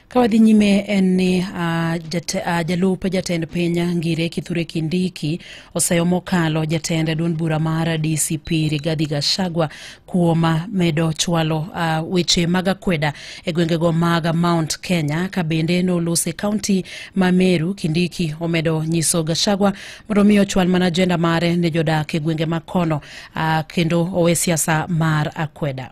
Ka wadhi nyime en ni uh, jate, uh, jalup jatend piny Ngire Kithure Kindiki oseyo mokalo jatend duond bura mar DCP Rigathi Gachagua kuom ah, medo chwalo uh, weche mag akweda e gwengego mag Mount Kenya ka bende nolos e kaunti ma Meru. Kindiki omedo nyiso Gachagua mondo mi ochwal mana ajenda mare ne jodak e gwenge ma kono uh, kendo owe siasa mar akweda.